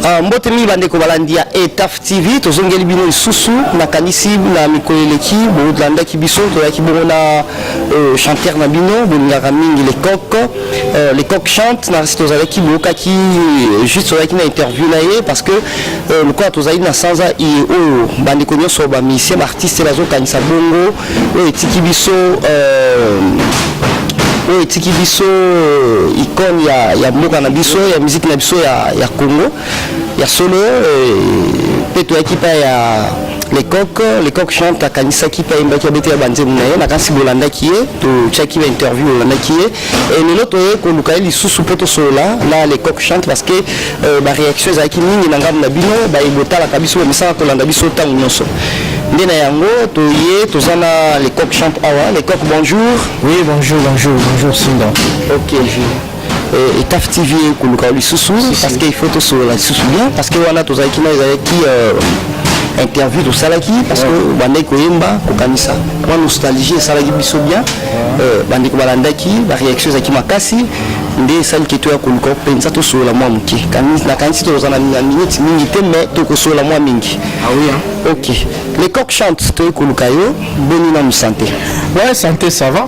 Ah, mbote mingi bandeko balandi ya etaf tv tozongeli bino lisusu nakanisi na mikolo eleki bolandaki biso toyaki bongo na euh, chanteur na bino bolingaka mingi lecoq Euh, les coq chante na site ozalaki boyokaki euh, juste ozalaki na interview na ye parce que euh, lokola tozali na sanza iye oyo bandeko nyonso bamisien baartiste bazokanisa bongo oyo etiki biso oyo etiki biso icone ya mboka na biso ya miziki na biso ya congo ya solo mpe eh, toyaki mpa ya lecoq lecoq jean akanisaki mpe ayembaki abetela banzembo na ye nakanisi bolandaki ye totyaki ba interview olandaki ye e lelo toye koluka ye lisusu mpo tosolola na lecoq chante parce que euh, baréaction ezalaki mingi na ngambo na bino baye botalaka biso bamisaka kolanda biso ntango nyonso nde na yango toye toza na lecoq chante awa lecoq bonjour oui bonjour bonjour bonjour sinda ok euh, etaf tv ekoluka lisusu parce que il faut tosolola lisusu bien parce que wana tozalaki na ezalaki euh, interview tosalaki parce que bandaki koyemba kokanisa mwa nostalgie esalaki biso bien euh, bandeko balandaki baréaction ezalaki makasi nde esali ke toya koluka mpenza tosolola mwa moke nakanisi tokoza na minute mingi te mais tokosolola mwa mingi ah oui, hein? ok les coq chante toyei koluka yo boni nanu santé ouais santé ça va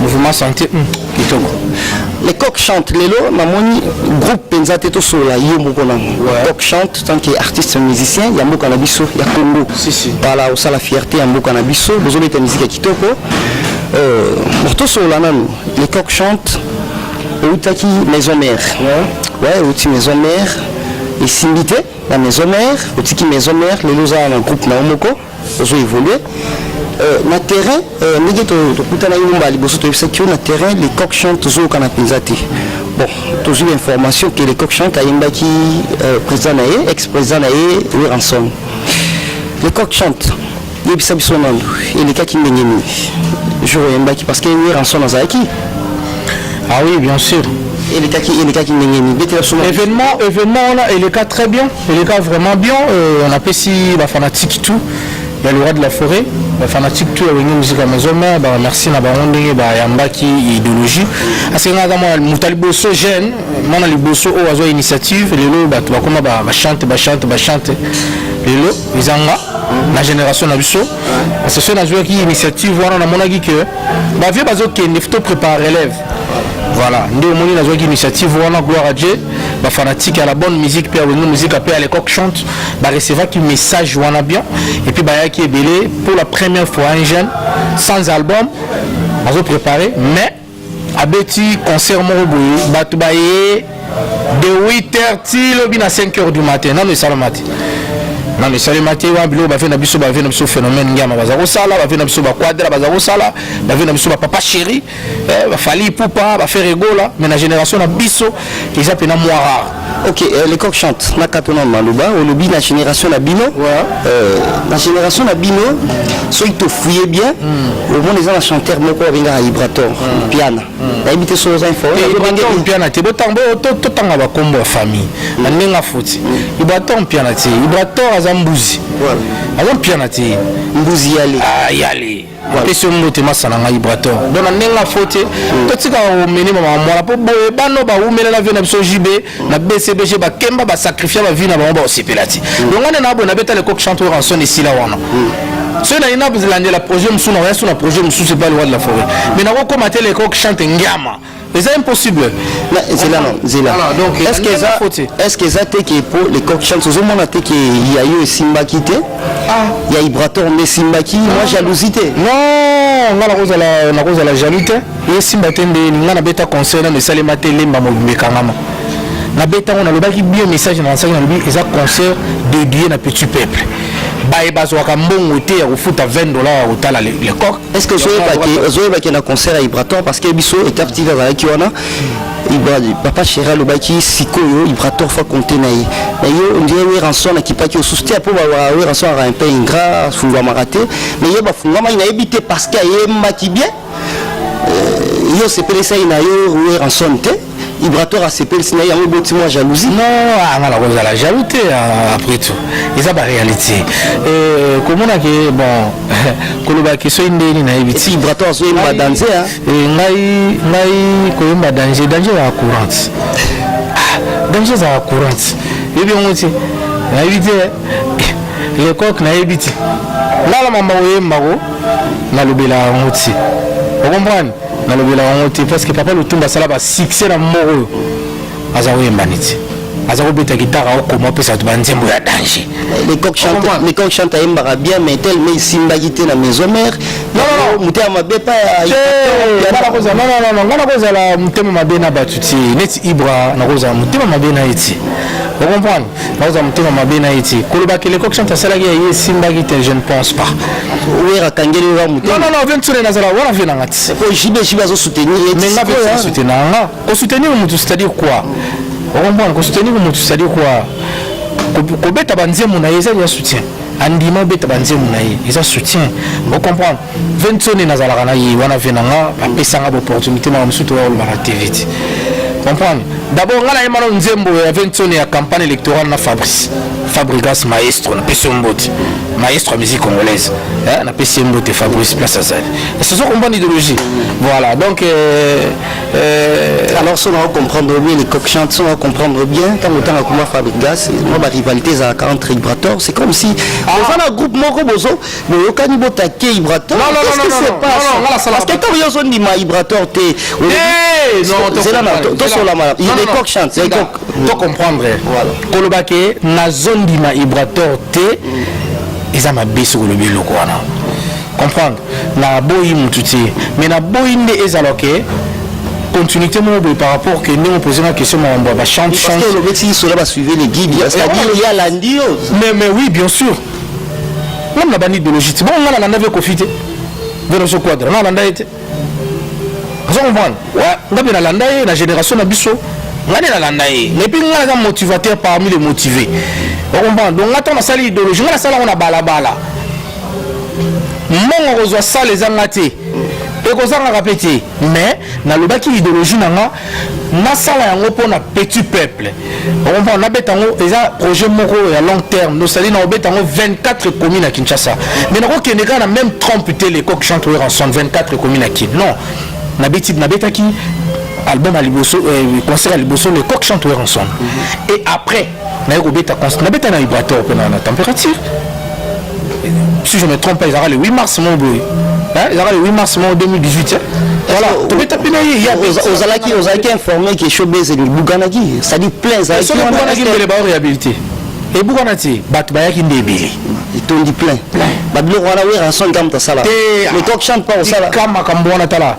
mouvement santé hmm, kitoko les coq chante lelo namoni groupe mpenza te tosolola yo moko nango coq chante tant que artiste musicien ya mboka na biso ya congo bala osala fierté ya mboka na biso bozobeta miziki ya kitoko euh, tosolola nanu les coq chante outaki maison mère ouais outi maison mère esimbi te na maison mère otiki maison mère lelo ozala na groupe na yo moko ozo évoluer euh, na terrain euh, ndenge tokutanaki to mbala liboso toyebisaki yo na terrain les coq chante tozokana mpenza te bon tozwi information ke les coq chante ayembaki euh, président na ye ex président na ye weranson les coq chante yebisa biso nano elekaki ndenge nini jour oyembaki parce que weranson azalaki Ah oui, bien sûr. elekaki elekaki ndenge nini betela biso événement événement wana eleka très bien eleka vraiment bien euh, on apesi bafanatique tout ya le roi de la forêt bafanatique tout ya wenge musique ya maison mère baremercie na bango ndenge bayambaki idéologie asengaka mwana moto ya liboso jeune mwana liboso oyo azwa initiative lelo bato bakoma bachante bachante bachante lelo eza nga na génération na biso parce que soki nazwaki initiative wana namonaki que bavie bazokende to prépare relève voilà nde omoni nazwaki initiative wana gloire à dieu bafanatique ya la bonne musique mpe ya wenge musique mpe ya lecoq chante barecevaki message wana bien et puis bayaki ebele pour la première fois un jeune sans album azo préparer mais abeti concert moko boye bato baye de 8 heures ti lobi na 5 heures du matin nano esalama te nano esalema te wana biloko bave na biso bave na biso phénomène ngiama baza kosala bave na biso baquadra baza kosala bave na biso bapapa chéri eh, bafali ipupa baferegola mais na génération na biso eza pena mwa rare ok euh, le coq chante nakata na maloba olobi na génération na bino ouais. euh, na génération na bino soki tofouye bien mm. omona eza na chanteur moko abengaka ibrator mm. piana mm. nayebi te soki oza informepiana te totanga bakombo ya famille na mm. ndenge afoti mm. ibrator mpiana te ibrator aza mbuzi ouais. aza mpiana te mbuzi yale ah, yale napesi yo mbote masa na ngai brator donc na ndenge ya fo te hmm. totikaka komene mama mwana mpo boye bano baumela na vie na biso jb na bcbg bakemba basacrifia bavie na bango baosepela ti hmm. donc wana na boye nabeta lecoq chanteur ranson esila wana hmm. soki naina landela projet mosusu nakoya so na projet mosusu epa liwa de la forêt mais nakokoma te lecoq chante ngiama eza impossible zela no zela est-ce que eza est-ce que eza te que po les coq chance ozomona te que ya yo esimbaki te ah. ya ibrator nde esimbaki mwa ah. jalousie te non nga nakozala nakozala jaloux te esimba te nde nga nabeta conseil nano esalema te lemba mobimba ekangama nabeta yango nalobaki bio message na nasaki nalobi eza concert dédié na petit peuple baye bazwaka mbongo te ya kofuta 20 dollar ya kotala le coq est ce que ozoyeba ke na concert ya ibrator parce que biso etape tv azalaki wana papa chéri alobaki sikoyo ibrator fa compte na ye na ye ondire weranson akipaki osusu te mpo weranson aka mpe ingra afungwamaka te na ye bafungwamaki nayebi te parce que ayembaki bien yo osepelisa ye na yo weranson te Ibrator asepelisi na ye yango eboti mwa jalousie non ah, nga nakozala jaloux te ah, après tout eza baréalité eh, komona ke bon koloba ke soki ndeni nayebi ti ibrator azoyemba danze ah. eh, ngai ngai koyemba danger danger ya courante danger ezala courante yebi yango ti nayebi te lecoque nayebi ti ngai na mama koyembako nalobela yango ti okomprane nalobela yango te parce que papa lutumba asala ba succès na moko oyo aza koyemba neti aza kobeta gitara okoma opesa bato banzembo ya danger lecoq chante ayembaka bien mais tel mais esimbaki te na maison mare motema mabe pa ngai nakozala motema mabe na bato ti neti ibra nakozala motema mabe na ye ti ocomprendre bakozwa motema mabe na ye ti koloba ke lecoq chante asalaki ya ye esimbaki te je ne pense pas wera akangeli oyo motema non non venture nazala wana vie nanga ti po jibe jibe azo soutenir ye mais nga pe soutenir nga ko soutenir mutu c'est à dire quoi okomprendre ko soutenir mutu c'est à dire quoi kobeta banzembo na ye ezali ya soutien andima obeta banzembo na ye eza soutien okomprendre Vincent et nazalaka na ye wana vie na nga apesa nga opportunité makambo mosusu toyakoloba na tv ti comprendre d'abord nga nayemba na nzembo ya Vincent ya campagne électorale na fabrice fabrigas maestro napesi yo mbote maestro ya musique congolaise eh, napesi ye mbote fabrice place azali esozo comprendre idéologie voilà donc euh, euh, alors soki nao comprendre bien les coq chante soki nao comprendre bien ntango otanga kuma fabrigas mwa barivalité ezalaka entre ibrator c'est comme si ah. oza na groupe moko bozo boyokani botake ibrator parce que ntango yo ozondima ibrator te to comprendre koloba ke nazondima ibrator te eza mabe soki olobi eloko wana comprendre naboyi motu te mais naboyi nde ezala ke continuité moko boye par rapport que ndenge opose nga question makambo ya bachante chanteolobeti isola basuive le guide mais mais oui bien sûr Meme na bandi idéologie ti bongo nga nalanda vie kofi te veroso quadra nalanda ye te azo comprendre wa nga mpe nalanda ye na génération na biso nga nde nalanda ye mais mpe nga naza motivateur parmi les motivés okomprendre donc nga ntango nasali idéologie nga nasala yango na balabala mbongo kozwa sale eza nga te ekozangaka mpe te mais nalobaki idéologie na nga nasala yango mpo na petit peuple okomprendre nabeta yango eza projet moko ya long terme nosali na obeta yango 24 ekomi na kinshasa mais nakokende kaka na même trompe te lecoq chantre ranson 24 ekomi na kin non nabeti nabetaki album ya liboso eh, concert ya liboso lecoq chantre ranson et après naye kobeta concert nabeta na vibrateur mpe na température si je me trompe pas ezalaka le 8 mars moko boye ezalaka le 8 mars moko 2018 eh? voilà tobeta mpe na ye ya ozalaki ozalaki informé ke showbase ebukanaki c'est-à-dire plein ezalaki soki ebukanaki mbele baoriabilité ebukana te bato bayaki nde ebele etondi plein babiloko wana werrason ntango moto asala lecoq chante mpa osala makambo wana tala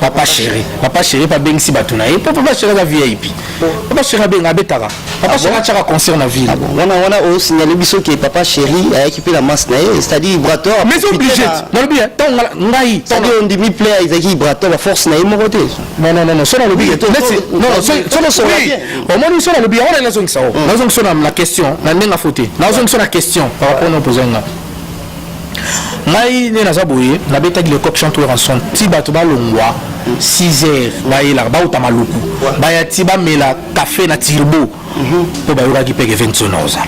papa chéri papa chéri pa bengisi bato na ye po papa chéri aza vip papa chéri abenga abetaka papa ah chéri atyaka concert na ville ah wana wana osignale biso ke papa chéri ayaki mpe na masse na ye c'est-à-dire brator ah, mais obligé nalobi ntango ngai c'est-à-dire ondimi play ezalaki brator baforce na ye moko te non non non so nalobi omoni so nalobi yango na nazongisa o nazongisa na question na ndenge afote nazongisa na question par rapport na opposé nga ngai nde naza boye nabetaki le coq chante tour ensemble ti bato balongwa 6 heures bayelaka bauta maluku baya ti bamela kafe na tirbo mhm. mpo bayokaki peke vention na ozala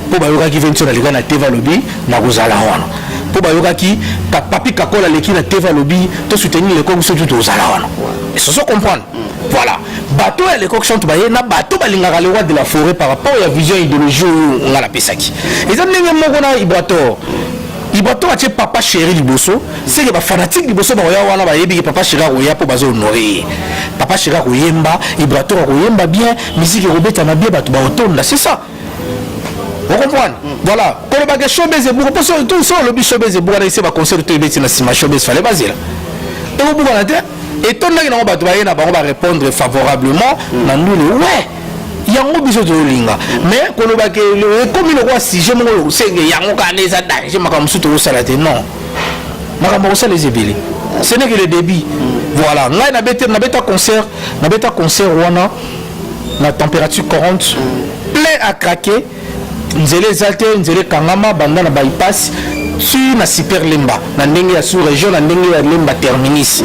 mpo bayokaki vention aleka na teva alobi nakozala wana mpo bayokaki papi kakola aleki na teva alobi tosoutenir le coq biso tu tozala wana esoso comprendre Voilà. Bateau ya l'époque chante baye na bateau balingaka le roi de la forêt par rapport à la vision idéologie oyo nga napesaki. Eza ndenge moko na Ibrator. Ibrator atie papa chéri liboso, c'est que ba fanatiques liboso ba oya wana bayebi que papa chéri akoya po bazo honorer. Papa chéri akoyemba, Ibrator akoyemba bien, musique ekobeta na bien bato ba otonda, c'est ça. okomprendre voilà kolobaka showbiz ebuka mpo so olobi showbiz ebuka na ese baconcert to ebeti na nsima showbiz fale bazela ekobukana te etondaki nango bato baye na bango barépondre favorablement mm. na ndule ouais yango biso tozolinga mais koloba ke ekomi lokola sujet moko lokosenge yango kaka nde eza danger makambo mosusu tokosala te non makambo akosala eza ebele ce n'est que le débit mm. voilà ngai nabeta concert nabeta concert wana na température 40 plein à craquer nzela eza te nzela ekangama banda na bypass ti na super lemba na ndenge ya sous région na ndenge ya lemba terminis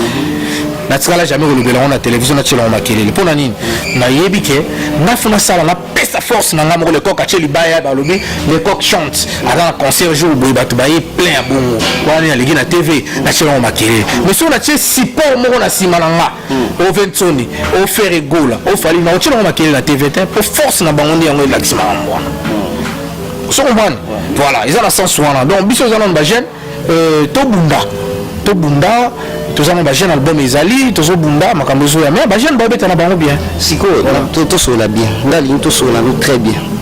natikala jamais kolobela yango na televizio natyelango makelele mpo na nini nayebi ke ngafu nasala napesa force na ngai moko lecoq atye libaya balobi lecoq chante aza na concert jour boye bato baye plein ya bongo wana nini aleki na tv natyelango makelele mais soki natye support moko na nsima na nga hmm. o vensoni o fere gola o fali na otyela ngo makelele na tv te mpo force na bango nde yango elakisi makambo wana hmm. so comprendre voilà eza na sens wana donc biso eza nano bajeune euh, tobunda tobunda toza na bajeune album ezali tozobunda makambo ezoya mais bajeune babeta na bango bien sikoyo tosolola bien nga lingi tosolola no très bien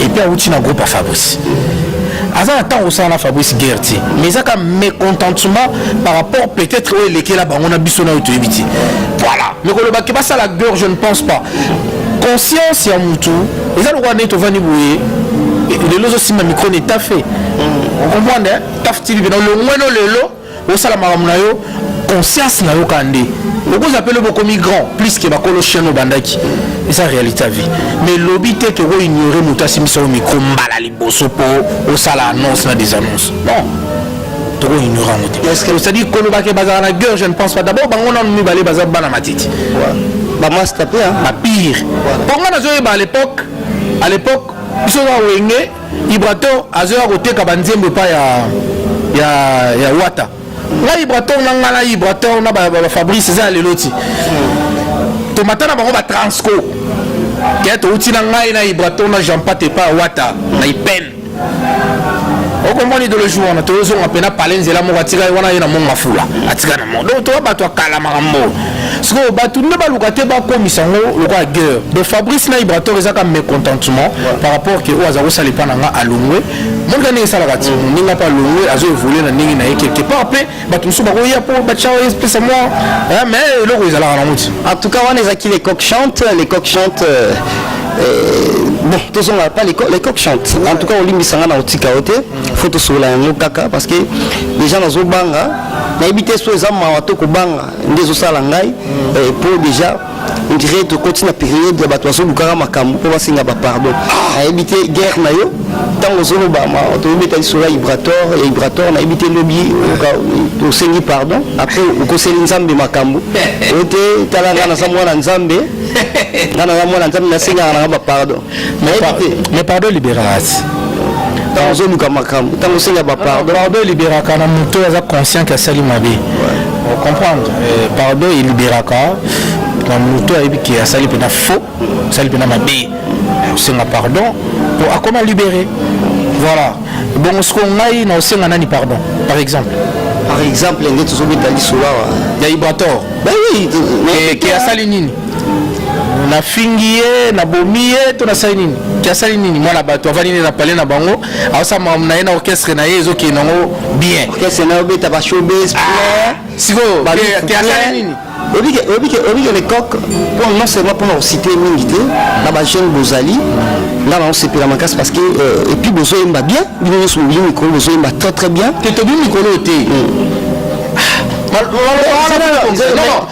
et puis awuti na groupe ya fabrice aza na ntango osala na fabrice guerre te mais ezaka mécontentement par rapport peut-être oyo elekela bango na biso nayo toyebi te voilà mais koloba ke basala guerre je ne pense pas conscience ya motu eza lokola ndenge tovandi boye lelo ozosimba micro ne tafe okomprendre taf tv pena olongweno lelo Osala makambo na yo conscience na yo kaka nde okozala mpe lobi okomi grand plus ke bakolo chaine obandaki eza réalité ya vie mais lobi te toko ignore moto asimbisa yo mikro mbala liboso mpo osala annonce na des annonces non toko ignore yango te c'est-à-dire kolobake bazala na gueur je ne pense pas d'abord bango nanu mibale baza bana matiti bamasta mpe bapire mpo ngai nazoyeba à l'époque à l'époque biso na wenge Ibrator azoya koteka ba nzembo epai ya ya ya Wata. Nga Ibrator na nga na Ibrator na ba, ba, ba Fabrice eza lelo ti. Tomata na bango ba Transco. Kaya touti na ngai na Ibrator na Jean Pat epai ya Wata na Ipen. okomona idologie wana tozozonga mpe na pale nzela moko atika ye wana ye na mongo afula atika na mongo donc toya bato akalamaka mbo sikoyo bato nde baluka te bakomisa yango lokola guerre donc fabrice na ibrator eza ka mécontentement par rapport ke oyo aza kosala epa na nga alongwe monika ndenge esalaka ti moninga mpe alongwe azo évolue na ndenge na ye quelque part mpe bato mosusu bakoya mpo batya espèce mwa mais eloko ezalaka nango ti en tout cas wana ezalaki les coq chante les coq chante euh, euh, bon tozonga pa les coq chante en tout cas olimbisa nga na otika yo te faut tosolola yango kaka parce que déjà nazobanga nayebi te so eza mawa to kobanga nde ezosala ngai eh, po deja ondire tokoti na periode ya bato bazolukaka makambo mpo basenga bapardon ah! nayebi te guerre na yo ntango ozoloba tobeta lisolo ya ibrator ya ibrator nayebi te lobi tosengi pardon apres okoseli nzambe makambo oyo te tala ngai naza mwana nzambe ngai naza mwana nzambe nasengaka nanga bapardon mais pardon libération ntango ozoluka makambo ntango osenga bapardon ah, pardon eliberaka na moto aza conscient ke asali mabe comprendre eh, pardon eliberaka na moto ayebi ke asali mpena faux asali mpena mabe osenga pardon po akoma libere voilà bongo soko ngai na osenga nani pardon par exemple par exemple nde tozobeta lisolo awa ya ibrator eh, ke asali nini nafingi ye nabomi ye to nasali nini ti asali nini mwana bato avandi nde na pale na bango aosala makambo na ye na orchestre na ye ezokende yango bien orchestre na yo obeta ba showbiz ah, sikoyo ti asali nini obike lecoq non seulement mpona kosite mingi te na bajeune bozali nga naosepela makasi parce que euh, epuis bozoyemba bien bino nyonso bobili mikolo bozoyemba très très bien te tobi mikolo te hmm.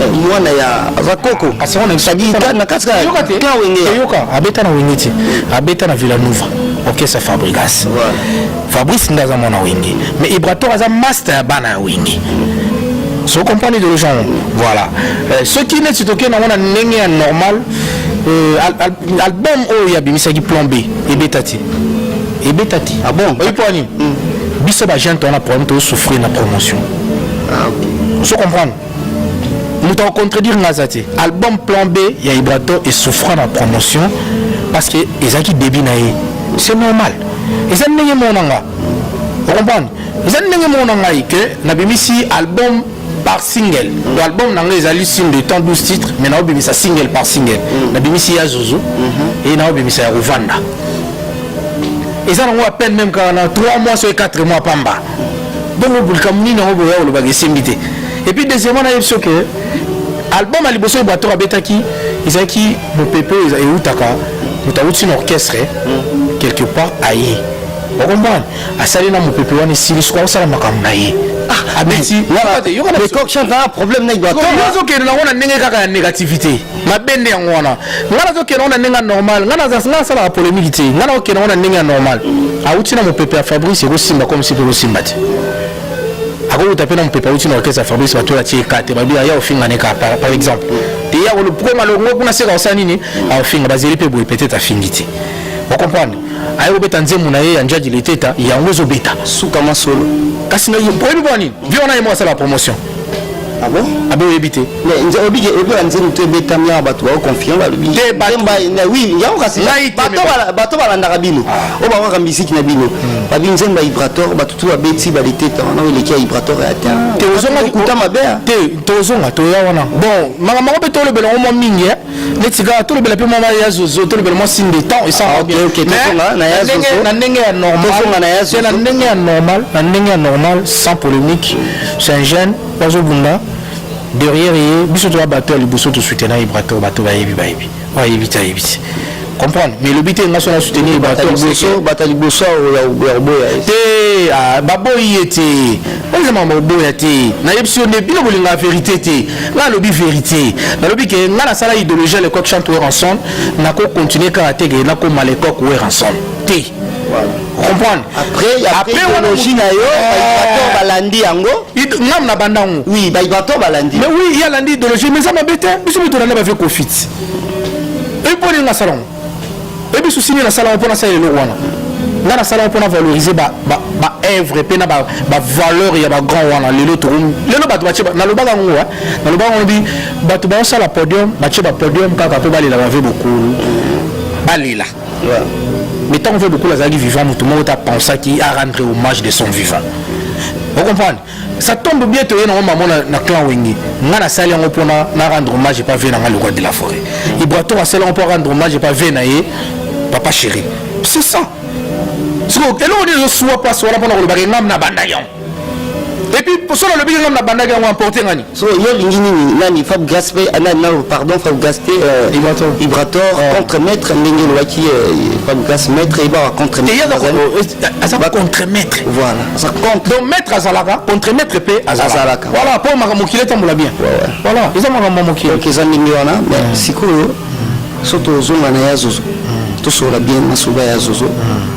Eh, mwana ya vakoko asakita na kati ka wenge yoka abeta na wenge ti abeta na villanova orchestre fabrigas fabrice nde aza mwana wenge mais ibrator aza master ya bana ya wenge so comprendre idéologie yango voilà eh, soki neti tokei nango na ndenge ya normal eh, album oyo oh, abimisaki plan b ebeta ti ebeta ti ah bon oyi mpo ani hmm. biso bagente wana problème tosouffrir na promotion ah, so comprendre moto akocontredire nga aza te album plan b ya ibrato esouffra na promotion parce que ezalaki début na ye c'est normal eza ndenge mona nga ocomprendre eza ndenge mona ngai ke nabimisi album par single to album na ngai ezali signe de temps 12 titres mais naobimisa single par single mm. nabimisi ya zuzu mm-hmm. e naobimisa ya kovanda eza nango apene meme kaka na 3 mois soki 4 mois pamba bongo likambo nini yango boya kolobaka esimbi te epuis deuxièmement nayebi so ke album ya liboso oyo bator abetaki ezalaki mopepe oyo eutaka moto awuti na orchestre hmm. quelque part aye okomprendre asali na mopepe wana esili soki akosala makambo na ye ah, abeti yoka na problème na ibato ozokende nango na ndenge kaka ya négativité mabe nde yango wana ngai nazokenda ngo na ndenge ya normal ngai nasalaka polemiki te ngai nakokenda ngo na ndenge ya normal awuti na mopepe ya fabrice ekosimba komsi mpe ekosimba te akowuta mpe na mopepe awuti na orkestre ya fabrice bato oyo atie ekate babi aya ofinga neka par exemple te ya kolokoma longo kuna seka osala nini aofinga bazeli mpe boye peut-être afingi te okomprendre aye kobeta nzembo na ye ya njadi leteta yango ezobeta suka masolo kasi oyebi mpo nini vi wana ye moko asala promotion Ah bon? Ah bon, oyebi te. Mais nze obi ke obi anze mutu ebetami awa bato bao confiant balobi. Te bato. Oui, yango kasi bato bala bato balandaka bino. Ah. Oyo bakaka misiki na bino. Hmm. Babi nzemba Ibrator bato tu babeti baleteta wana oyo eleki ya Ibrator ya te. Ah. Te ozonga kuta mabe. Te tozonga toya wana. Bon, makambo mpe tolobela ngo mwa mingi eh. neti kaka tolobela mpe mama ya zozo tolobela mwasi ndetan esaka bien na ndenge ya normalna ndenge ya normal na ndenge ya normal sans polémique c'est un jeune bazobunda derrière ye biso toya bato ya liboso tosutena ye bato bato bayebi bayebi oyebi te ayebi te comprendre mais lobi te nga so na soutenir ba to boso bata liboso ya oboya te ah, ba boyi ete oza mama oboya te na yebisi yo nde bino bolinga vérité te nga lobi vérité na lobi ke nga na sala idéologie à l'époque chante Werrason na ko continuer kaka te ke na ko mal époque Werrason te comprendre après après idéologie na yo bato eh. balandi yango ngam na bandango oui bato balandi mais oui ya landi idéologie mais ça m'a bête biso bitona na ba vie kofiti ebi mpo nini nga asala yango ebi susi nini nasala yango mpo nasala eloko wana nga nasala yango mpo na valoriser baœuvre mpe na bavaleur ya bagrand wana lelo tokomi lelo bato batie nalobaka yango eh. nalobaka yango bi bato baosala podium batie bapodium kaka mpo balela bave bokulu balela mais ntango mpe bokulu azalaki vivant moto moko te apensaki arendre hommage de son vivant ocomprendre Ça tombe bien toye nango mamo na, na clan wenge nga nasali yango mpona na rendre hommage epa vie na nga lokwa de la forêt ibrator asali yango mpo rendre hommage epa vie na ye papa chéri c'est ça sikoyo eloko nini ezosua mpasi wana mpona kolobaka engambi na banda yango epuis solo alobiki engambi na bandaki yango emporte ngani So yo lingi nini nani Fab Gas pe ah, nani nani pardon Fab Gas te euh, Ibrator Ibrator oh. contre maître ndenge lobaki euh, Fab Gas maître et ba contre maître aza ba contre maître voilà ça compte donc maître azalaka contre maître pe azalaka voilà po makambo kile tambola bien voilà eza makambo mokile donc eza ndenge wana mais mm. sikoyo so tozonga na ya zozo mm. tosolola bien na soba ya zozo mm.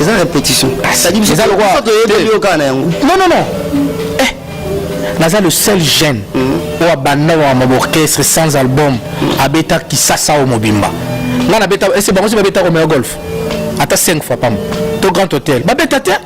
eza répétition eza lokola toyebi yo kaka na yango non non non eh naza le seul jeune mm. oyo abanda wama orchestre sans album mm. abeta kisasa oyo mobimba ngai nabeta ese bango si babeta komea golf ata 5 fois pamba to grand hôtel babeta te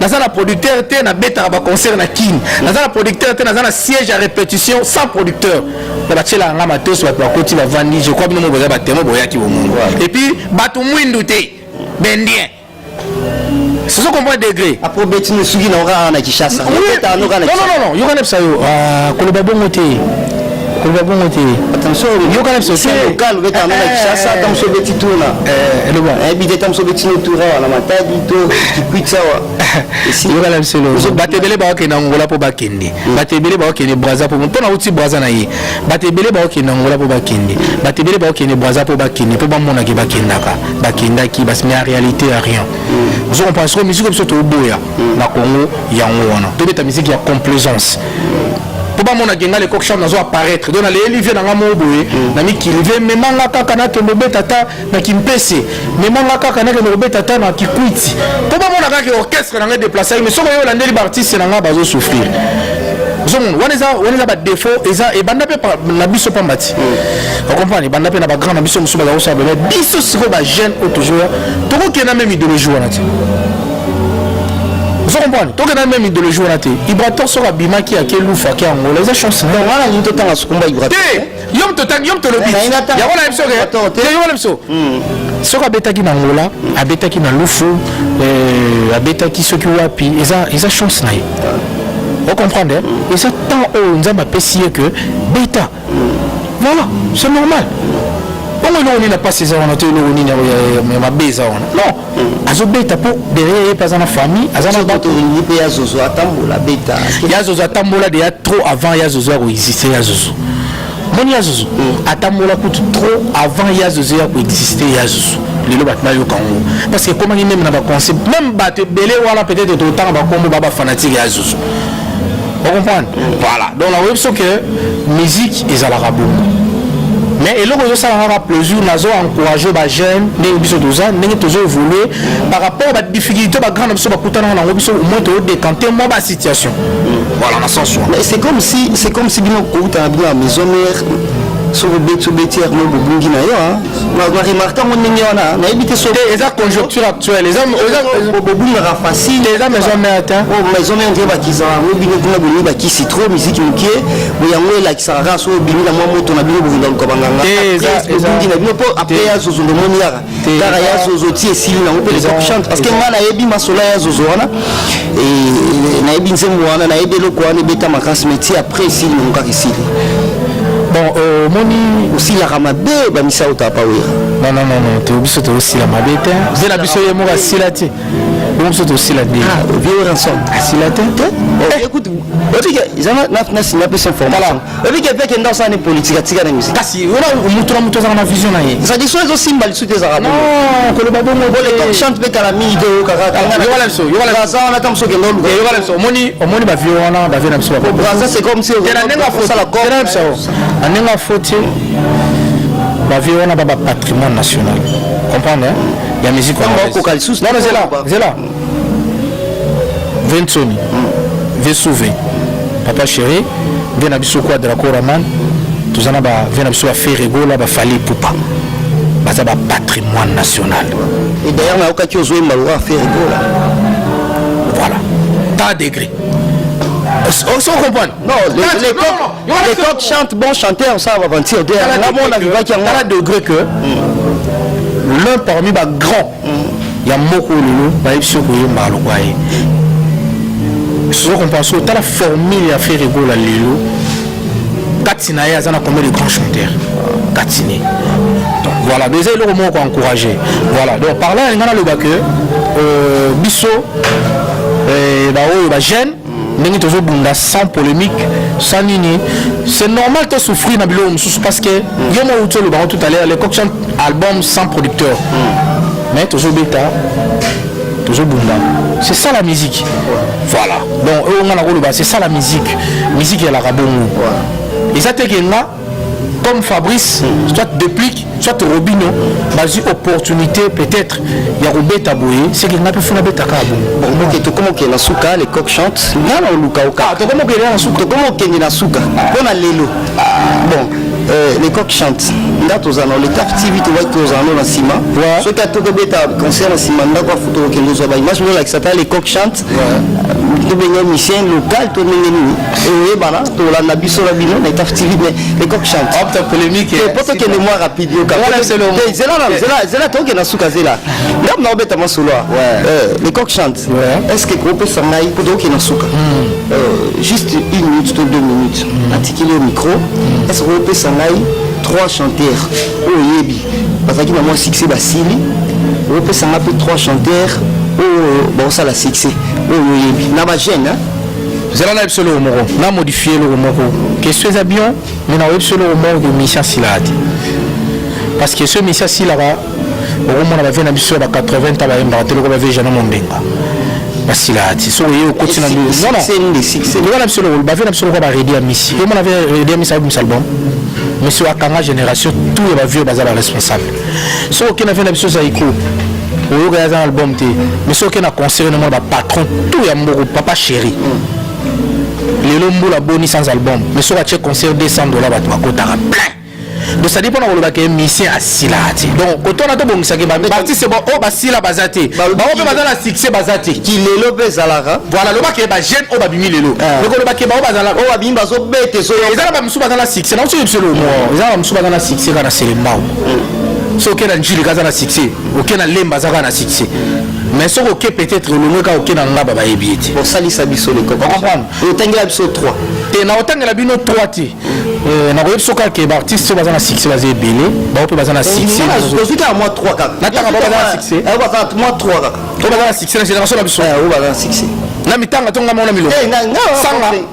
naza na producteur te nabetaka baconcert na kin naza na producteur te naza na siège ya répétition sans producteur na batyelaka nga matos bato bakoti bavandi je crois bino mo boza batemo boyaki bomongo epuis bato mwindu te bendien sozo comprendre degré aprobeti ne soki na okaka na kishasa non non non yokana bisa yo ah, koloba bongo te koloba bongo te yokana bisookalo beta na kishasa ta mosu obeti tuna eloba ayebi te ta mosu obeti no tura wana matadi to kikwiti awa yokana biso elo bato ebele bakokende angola mpo bakende bato ebele bakokende braza mpo mpo nauti braza na ye bato ebele bakokende angola mpo bakende bato ebele bakokende braza mpo bakende mpo bamonaki bakendaka bakendaki basi mais en réalité ya rien ozo comprendre soko misiko biso toboya na congo yango wana tobeta misiki ya complaisance po bamona genga lecoq chambre nazo apparaître donc naleyeli vie nanga moko boye mm. na mikili vie memanga kaka nakende obeta ata na kimpese memanga kaka nakende kobeta ata na kikwiti po bamona kaka orchestre nanga edeplace yaki mais soki oyo olandeli baartiste nanga bazosouffrir ozomona wana eza wana eza badefaut eza ebanda mpe na biso pamba ti mm. ocomprendre ebanda mpe na bagrand na biso mosusu baza kosala bebe biso sikoyo bajeune oyo tozoya tokokenda meme idéologie wana ti ozo comprendre tokenda meme idéologie wana te ibrator soki abimaki ake lufa ake angola eza chance donc wana alingi totanga sukumba ibrator te yo moto otangi yo moto olobi yango na biso ke yo wana biso soki abetaki na angola abetaki na lufu euh, abetaki soki wapi eza eza chance na ye ocomprendre eza temps oyo nzambe apesi ye ke beta voilà c'est normal bongo eloko nini na mpasi eza wana to eloko nini ya mabe eza wana non hmm. azobeta mpo derrière ye mpe aza na famille aza na bato olingi mpe ya zozo atambola abeta ya zozo atambola deya trop avant ya zozo ya koexiste ya zozo moni ya zozo hmm. atambola kutu trop avant ya zozo ya koexiste ya zozo lelo bato bayoka yango parce que ekomaki meme na baconcept meme bato ebele wana peut-être totanga bakombo ba bafanatike ya zozo Vous comprenez Voilà. Donc, la web, c'est que musique, ils ont la rabou. mais eloko ezosala kaka plaisir nazo encourage bajeune ndenge biso toza ndenge tozo évolue par rapport ba difficulté bagrand na biso bakutanaka nango biso omoi toodécante mwa ba situation voilà na sens wana c'est comme si c'est comme si bino kouta na bino ya maison mère soki obeti obeti yango bobungi na yo baremarke yango ndenge wana nayebi te soki eza conjoncture actuelle bobungaka facile eza maison mère te o maison mère nde bakisa yango bino kuna bolingi bakisi trop miziki moke yango elakisaka kaka soki obimi na mwa moto na bino bolinga luka banganga ebungi na bino mpo apres ya zozo ndomoni yaka kaka ya zozo ti esili nango mpe les options parce que ngai nayebi masolo ya zozo wana Et nayebi nzembo wana nayebi eloko wana ebeta makasi mais ti après esili nalukaka esili bon euh, omoni osilaka mabe bamisa oyo tapa oyo non non non non to biso tozosila mabe te mpe na biso ye moko asila te bongo biso tosila te vieux ransom asila te te écoute otika eza na na sina pe son formation oyebi ke peke nda osala ne politique atika na musique kasi wana moto na moto azalaka na vision na ye tradition ezosimba lisu te ezalaka non koloba bongo po le temps chante mpe kala mingi te oyoka kaka yokala biso yokalaaza wana ta mosu okende oluka yokala biso omoni omoni bavio wana bavio na biso babraza c'est comme si na ndenge afosala corps na biso na ndenge afoti bavio wana ba ba patrimoine national comprendre ya musique okoka lisusu zela zela Vincent Vesuve papa chéri vie na biso kwa Draco Raman toza na ba vie na biso ba Ferre Gola ba Fally Ipupa baza ba patrimoine national et d'ailleurs nayokaki ozwa embango ya Ferre Gola voilà pas degré on se comprend non les, les, les, coq, non, les coq chantent bon chanteur ça va aventure derrière là on arrive à un degré que hmm. l'un parmi ba grands ya mboka oyo lelo bayebisi yo koyembaka lokola ye sozo kompanse otala formule ya frere gola lelo kati na ye aza na combien de grand chanteur kati ne donc voilà donc eza eloko moko koencourage voilà donc par là alinga naloba que euh, biso euh, baoyo bagene ndenge tozobunda sans polémique sans nini c'est normal te souffrir na biloko mosusu parce que yo mwa outi olobango tout à l'heure le coction album sans producteur mais tozobeta tozobunda c'est ça la musique voilà donc oyo nga nakoloba c'est ça la musique musique elaka bongo eza te ke nga comme Fabrice, soit Deplic, soit Robino, bazui opportunité peut-être ya kobeta boye, c'est que ngapi funa beta ka bon. Bon, ok, to komo kenda suka, les coqs chantent. Nga na oluka oka. Ah, to komo kenda na suka. To komo kenda na suka. Pona lelo. Bon, euh, les coqs chantent. Nga toza na le taf TV to waki toza na nsima. Soki atoko beta concert na nsima ndako afuta okende zwa ba image lola kisata les coqs chantent. tobenge musicien local to ndenge nini eyebana tolanda biso na bino na etaf tv mais lecoq chante po tokende mwa rapide yokazelazela toke na suka zela ndambo na obeta masolo lecoq chante est ce que kopesa ngai po toke na suka juste une minute to deux minutes natikeli yo micro est ce que kopesa ngai trois chanteurs oyo oyebi bazalaki na mwa succès basili opesa nga mpe trois chanteur oyo bakosala succès oyo oyebi na bajeune zala na biso eloko moko na modifie eloko moko question eza bien mai nakoyebi biso eloko moko ke misi asilaka te parce que soki misi asilaka okomona bavie na biso ya ba 80 ta bayembaka te loko bavie jana mombenga basilaka te soki oye okoti na ndoyoka na biso eloko bavie na biso loko baredi ya misi omona redi ya misi abimisa album monsieur akanga génération tout ya bavieux baza baresponsable soki okenda vie na biso zaiko oyoka yaza na album te mais soki okenda concert na mona bapatron tout ya mboko papa chéri lelo mbula boni sans album mais soki atie concert 200 dollars bato bakotaka plein donc sadi mpona koloba ke musicien asilaka te donc koto wana tobongisaki baartiste ba oyo oh, basila baza te baoyo mpe baza na succès baza te kilelo mpe ezalaka voilà lobaki bajeune oyo babimi lelo eh. lokoloba ke baoyo bazalaka oyo babimi bazobeta ezoeza subaka na succès na soki biselo mo eza ba subaka na succès kana selembao so oke na njili kaza na succès oke na lemba aza kaka na succès mais soki oke peut-être olongwe kaka oke na ngaba bayebi ye te osalisa biso leko comprendre otangela biso 3 te na otangela bino 3 te euh, nakoyebi biso kaka ke baartiste oyo baza na succès baza ebele bao mpe baza na succèsozwi kaka mwa 3 kaka natanga bao baza na succès mwa 3 kaka oyo baza na succès na génération na biso oyo baza na succès na mitanga to ngai mona milongo eh, sanga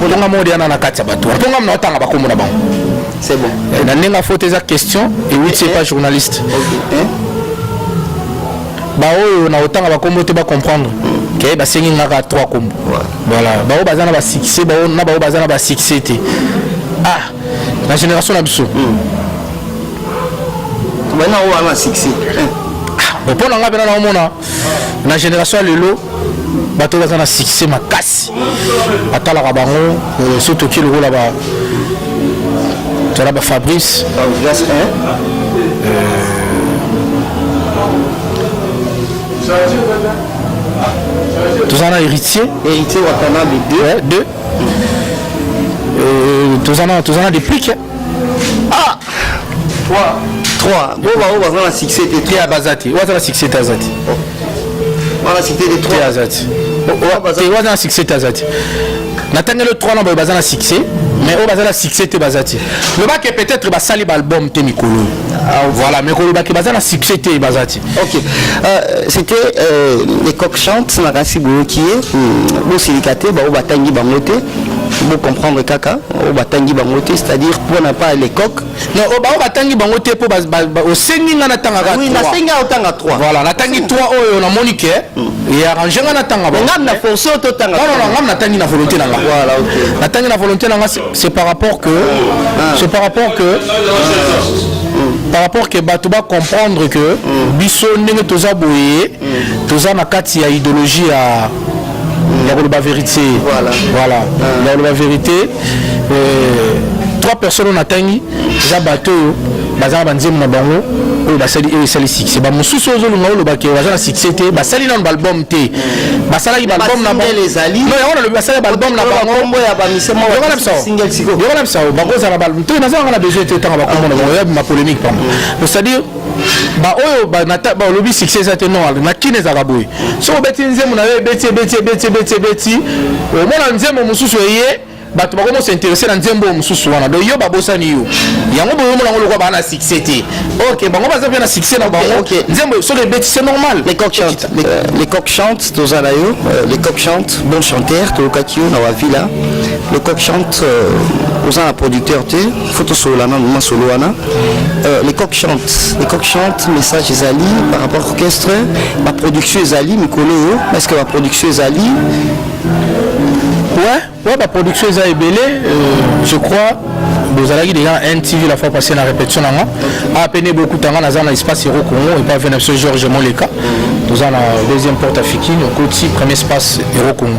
Kolonga mode yana na kati ya bato. Mpo ngamna otanga bakombo na bango. C'est bon. Eh, na ndenge faute eza question et oui c'est pas journaliste. Eh? Ba oyo na otanga bakombo te ba comprendre. Ke ba sengi ngaka trois kombo. Voilà. Ba oyo bazana ba succès, ba oyo na ba oyo bazana ba succès te. Ah, la génération na biso. Hmm. Bana oyo ana succès. Eh. Ah, mpo na ngai mpe na naomona na génération ya lelo bato baza na succès makasi atalaka bango euh, so toki lokola ba tala ba fabrice toza na héritier héritier watanabe 2 2 toza na deplique ah 3 3 bo ba ba na succès te te abazati wa na succès te azati ba na succès te 3 azati wa na succès te azati na tangelo 3 na ba ba na succès mais oyo baza na succès te baza te loba ke peut-être basali baalbum te mikolo ah, voilà mais koloba ke baza na succès te baza te ok euh, c'était euh, les coq chante na kasi boyoki ye hmm, bosilika te baoyo batangi bango te bo comprendre kaka oyo batangi bango te c'est-à-dire mpo na pas lecoq non oh, baoyo batangi bango te mpo osengi ngai natangaka oui, nasengi otanga 3 voilà natangi 3 oyo namoni ke hmm. earrange ngai natanga ngam na force oyo totanga ngam natangi na volonté na ngai voilà, okay. natangi na volonté na ngai c'est par rapport que ah. c'est par rapport que ah. par rapport que bato bacomprendre que biso ndenge toza boye toza na kati ya idéologie ya ya koloba verité voilà, voilà. Ah. ya koloba verité euh, trois personnes oyo natangi eza bato oyo bazala banzembo na bango oyo basali oyo esali succès bamosusu oyo ozolunga oloba ke baza na succès te basali nano baalbum te basalaki baalbum na bango yango nalobi basali baalbum na bangoyokana bisaoyokana bisao bakozala baalbum te nazalaka na besoin te ntango bakomona bango ya bima polémique pamba c'est-à-dire ba oyo ba na ba lobi succès ça te noir na kin ezaka boye so obeti nzembo na yo ebeti ebeti ebeti ebeti ebeti omona nzembo mosusu eye bato bakomi s'intéresser na nzembo mosusu wana donc yo babosani yo yango boyomo nango lokola baa na succès te ok bango baza mpe na succès na bango nzembo soki ebeti c'est normal les coq chante euh, les coq chante toza na yo euh, les coq chante bon chanteur toyokaki yo na wavila le coq chante euh, oza na producteur te faut tosolola nanu masolo wana euh, les coq chante les coq chante message ezali par rapport orchestre baproduction ezali mikolo oyo parce que baproduction ezali ouais, ouais baproduction eza ebele euh, je crois bozalaki déjà na ntv la fois passé na répétition na nga apene bokuta nga naza na espace hero congo epa ve na biso george moleka toza na deuxième porte afikine okoti premier espace hero congo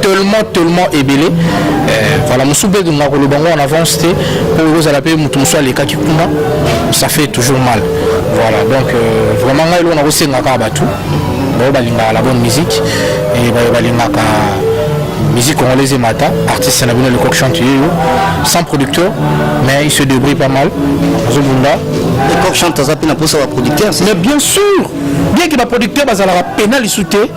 tellement tellement ebele euh, voilà mosusu mpe nga koloba ngo en avance te mpo ekozala mpe moto mosusu alekaki kuna ça fait toujours mal voilà donc euh, vraiment ngai eloko nakosengaka bato baoyo balingaka la bonne musique e bayo balingaka musique congolaise emata artiste na bino lecoq chante ye yo sans producteur mais il se débrouille pas mal azobunda lecoq chante aza mpe na mposa baproducteur mais bien sûr bien ke baproducteur bazalaka pena lisu te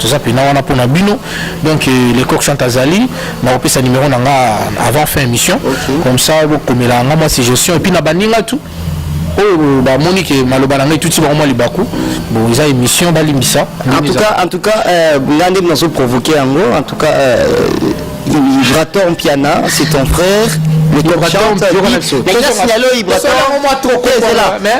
toza pena wana pona bino donc euh, le coq chante azali nakopesa numero na nga avant fin émission okay. comme ça bokomela nga mwa suggestion epuis na baninga tout oyo bamoni ke maloba na ngai tuti bango mwa libaku bo eza émission balimbisa en tout cas en tout cas euh, nga nde nazo provoquer yango en tout cas euh, Vibrator Mpiana c'est ton frère le coq chante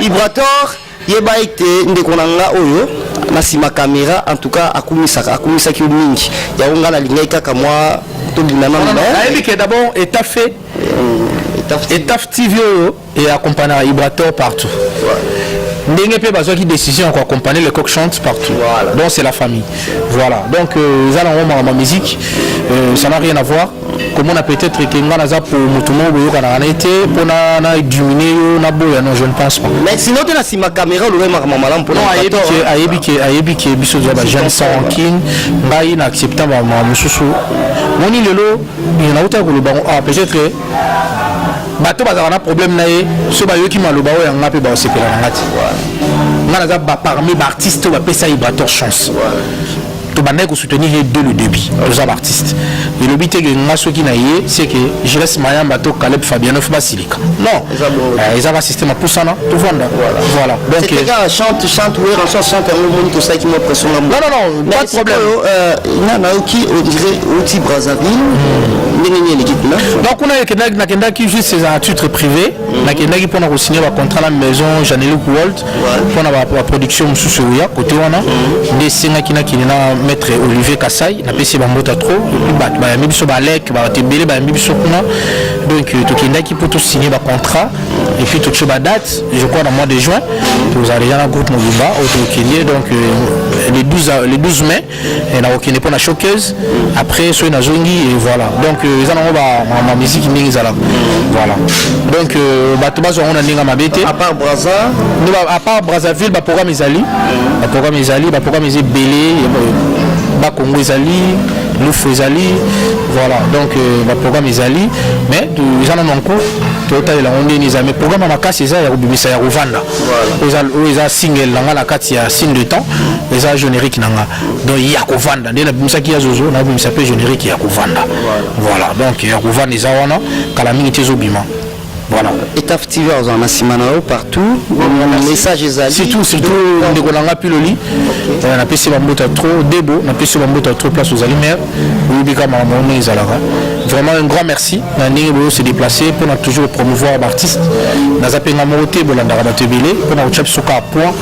Ibrator Yeba ete ndeko na nga oyo na sima kamera en tout cas akumisaka akumisaki yo mingi yango nga nalingaki kaka mwa tobina na nayebi ke d'abord etafe euh, etafe tv oyo e accompagnaka ibrator partout ndenge mpe bazwaki décision ya koaccompagner le coq chante partout voilà. donc c'est la famille voilà donc euh, eza euh, nango makambo ya musique euh, ça n'a rien à voir komona peut-être que nga naza po moto moko boyokanaka na ye te mpo na dumine yo na boya non je ne pense pas mais sinon te na nsima caméra olobai makambo malamu mpo ayebi ke ayebi ke biso toza ba jeune sans rancune ngai na accepta bamakambo mosusu moni lelo nautaki koloba ngo ah peut-être que bato bazalaka na problème na ye so bayoki maloba oyo yanga mpe baosepela na nga te nga naza parmi baartiste oyo bapesa ye bator chance tobandaki kosoutenir ye de le début toza baartiste elobi te ke nga soki na ye c'est que gires mayamba to caleb fabianof basilika non eza ba système apusana tovanda voilà donc chante chante oui rançon chante yango moni tosalaki mwa pression na non non non pas de problème euh, na nayoki odire oti brazzaville ndenge nini eleki kuna donc kuna nakendaki juste eza titre privé nakendaki mpona kosigne bacontrat na maison janeluc world mpo na baproduction mosusu eya kote wana nde esengaki nakende na maître olivier kasai napesi bambota trop epuis bato bayambi biso balek bato ebele bayambi biso kuna donc euh, tokendaki mpo tosigne bacontrat epuis totie badate je crois na mois de juin tozala deja na groupe mobimba oyo tokende donc euh, le 12 mai et na kokende mpo na showcase après soki nazongi et voilà donc euh, eza nango bamiziki ndenge ezalaka voilà donc euh, bato bazwa yango na ndenge mabe te à part brazzaville baprogramme ezali baprogramme ezali baprogramme eza ebele bakongo ezali lufu ezali voilà donc euh, baprogramme ezali mais eza nano en cours totalela yango ndenge eza mais programme ya makasi eza ya kobimisa ya kovanda oza oyo eza single na nga na kati ya signe de temps eza générique na nga donc ya kovanda nde nabimisaki ya zozo nabimisa mpe générique ya kovanda voilà donc ya kovanda eza wana kala mingi te ezobima voilà etaf tv azala na nsima na yo partout message ezali surtout surtout ndeko na nga piloli napesi bambota trop debo napesi bambota trop place ozali maire oyebi kaka makambo yango ndenge ezalaka vraiment un grand merci na ndenge boyo se déplace mpona toujours promouvoir baartiste naza mpe nga moko te bolandaka bato ebele mpona kotya biso kaka point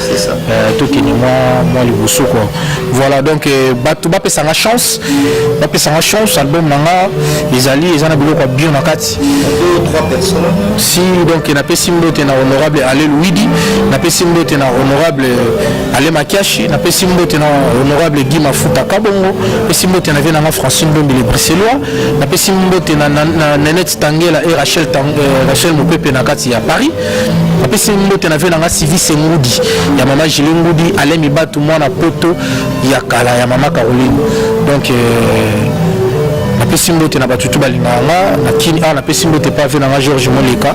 euh, tokende mwa mwa liboso kua voilà donc euh, bato bapesa nga chance bapesa nga chance album na nga ezali eza na biloko ya bio na kati si donc napesi mbote na honorable alel widi napesi mbote na honorable Ale Makiashi, na pesi mbote na honorable Guy Mafuta Kabongo, pesi mbote na vie na nga Francine Dombele Bruxellois, na pesi mbote na, na, na Nenette Tangela et Rachel, Tang, eh, Rachel Mupepe na kati ya Paris, na pesi mbote na vie na nga Civis Ngudi, ya mama Gilles Ngudi, Alain Mibatu, mwana poto ya kala ya mama Caroline. Donc, euh, napesi mbote na bato tu balingaka nga na kini awa ah, napesi mbote pave na nga george moleka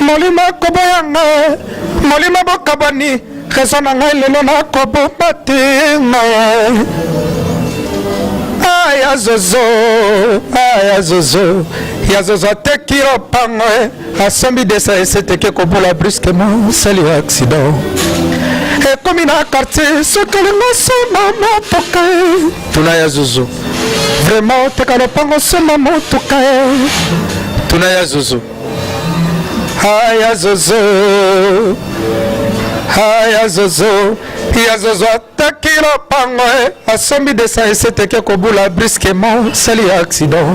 molimo ekoboya ngai molimo bokabwani rezo na ngai lelo nakobomba te aya zozo aya zozo ya zozo ateki lopango asombi desa eseteke kobola brusquement sali ya accident ekomi na quartier soki olingo osomba motuka tuna ya zozo vraiment oteka lopango osomba motuka tuna ya zozo haya zozo haya zozo ya zozo ataki lopango eh. asombi desa eseteke kobula brusquement sali ya accident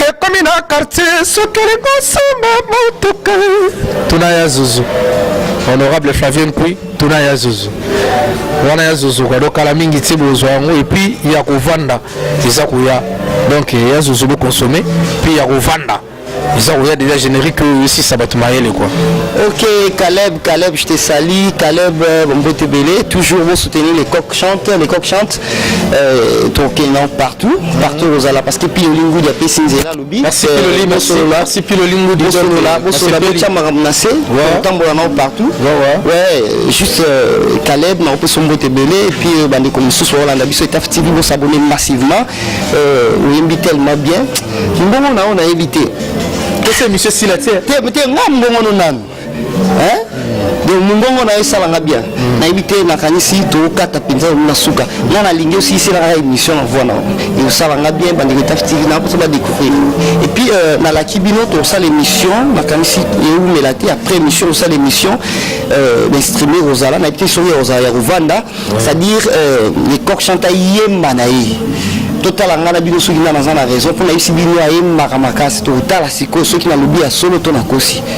ekomi na quartier soki olingi osomba motuka tuna ya zuzu honorable flavien kui tuna ya zuzu wana ya zuzu kadokala mingi ti bozwa yango epuis ya kovanda eza koya donc ya zozo bo consommer puis ya kovanda eza koya déjà générique oyo esisa bato mayele quoi ok caleb caleb je te sali caleb euh, bombote ebele toujours bo soutenir les coq chante les coq chante euh, tokenda partout partout ozala parce que pi olingi udi apesi nzela Merci Piloli, merci. Merci Piloli Ngudi. Bosolola, bosolola, botia makambo na se, otambola nao partout. Ouais, juste euh, Caleb na opesa mbote ebele et puis euh, bandeko mosusu baolanda biso Etaf TV bosabone massivement. Euh, oyembi tellement bien. Mbongo na yo nayebi te. Kese monsieur Sila te. Te te nga mbongo no nanu. hein donc mungongo na yo esalanga bien mm. nayebi te nakanisi tokokata mpenza yango na suka nga nalingi osilisela kaka émission na voi na yo osalanga bien bandeko etafitiki na mposa badécouvrir et puis euh, nalaki bino tosala émission nakanisi ewumela te après émission osala émission euh, bainstrime kozala nayebi te soki ozala ya kovanda c'est à dire euh, le coq chante ayemba na ye totala ngai na bino soki ngai naza na raison mpo nayebisi bino ayembaka makasi totala sikoyo soki nalobi ya solo to nakosi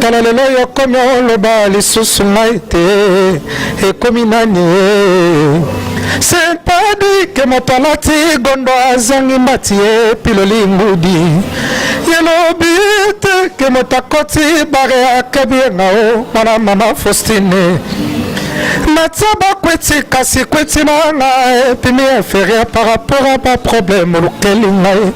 tala lelo yokomi oloba lisusu ngai te ekomi nani ye sentadike moto alati gondo azangi mbati ye piloli ngudi yelobi te ke moto akoti bare akabi ye ngao mwana mama faustine natia bakweti kasi kweti na nga epimi inferieur par rapport a baproblème olukeli ngai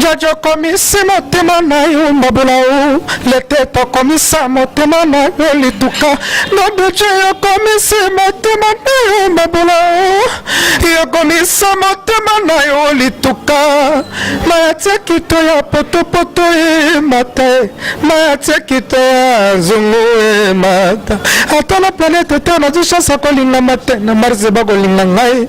Jojo okomisi motema na yo mbabula o lete tokomisa motema na yo lituka nobuce yokomisi motema na yo mbabula o yokomisa motema na yo lituka mayatia kito ya potopoto emata e mayatia kito ya zongo emata ata na planete te nazwi chance akolingama te na marse bakolinga ngai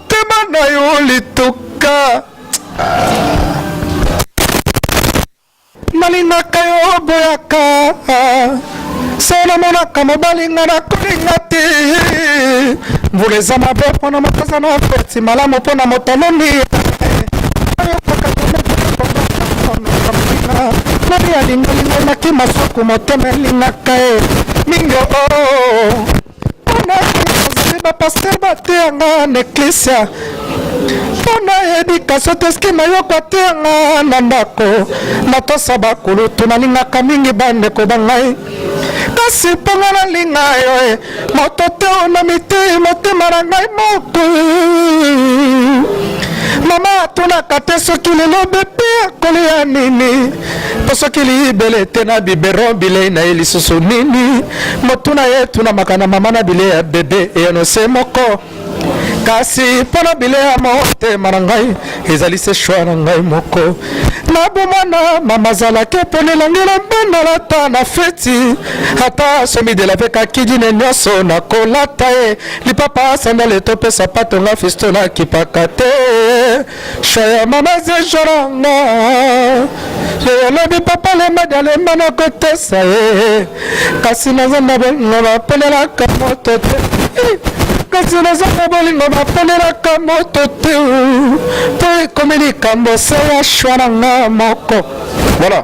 Tema na yo lituka. Nalingaka yo boyaka. Se namonaka mobali nga nakolinga te. Mvula eza mabe mpo na makaza na feti malamu mpo na motaloni. Maria lingalinga maki masuku motema elingaka ye mingi o. Oh, oh, oh. bapasteur bateya nga na eklisia mpo na edikasio teski na yo kwateya nga na ndako natosa bakulutu nalingaka mingi bandeko ba ngai kasi mpo nga nalinga yo e moto te na mitei motema na ngai moku mama atunaka te soki lelo bepe akolia nini tosokili bele te na biberon bilei na ye lisusu nini motuna ye tunamaka na mama na bilei ya bebe eyano se moko kasi mpo na bilei ya motema na ngai ezali se shwa na ngai moko nabomana mama azalaki mpona elangela bana lata na feti ata somidela mpe kakidine nyonso nakolata ye lipapa sandale to mpe sapato nga fisto nakipaka te Cher mama zejoranga olobi papa lemba dalemba nakotesa ye kasi naza na bolingo baponelaka moto te kasi naza na bolingo baponelaka moto te mpo ekomi likambo se ya shwa na nga moko voilà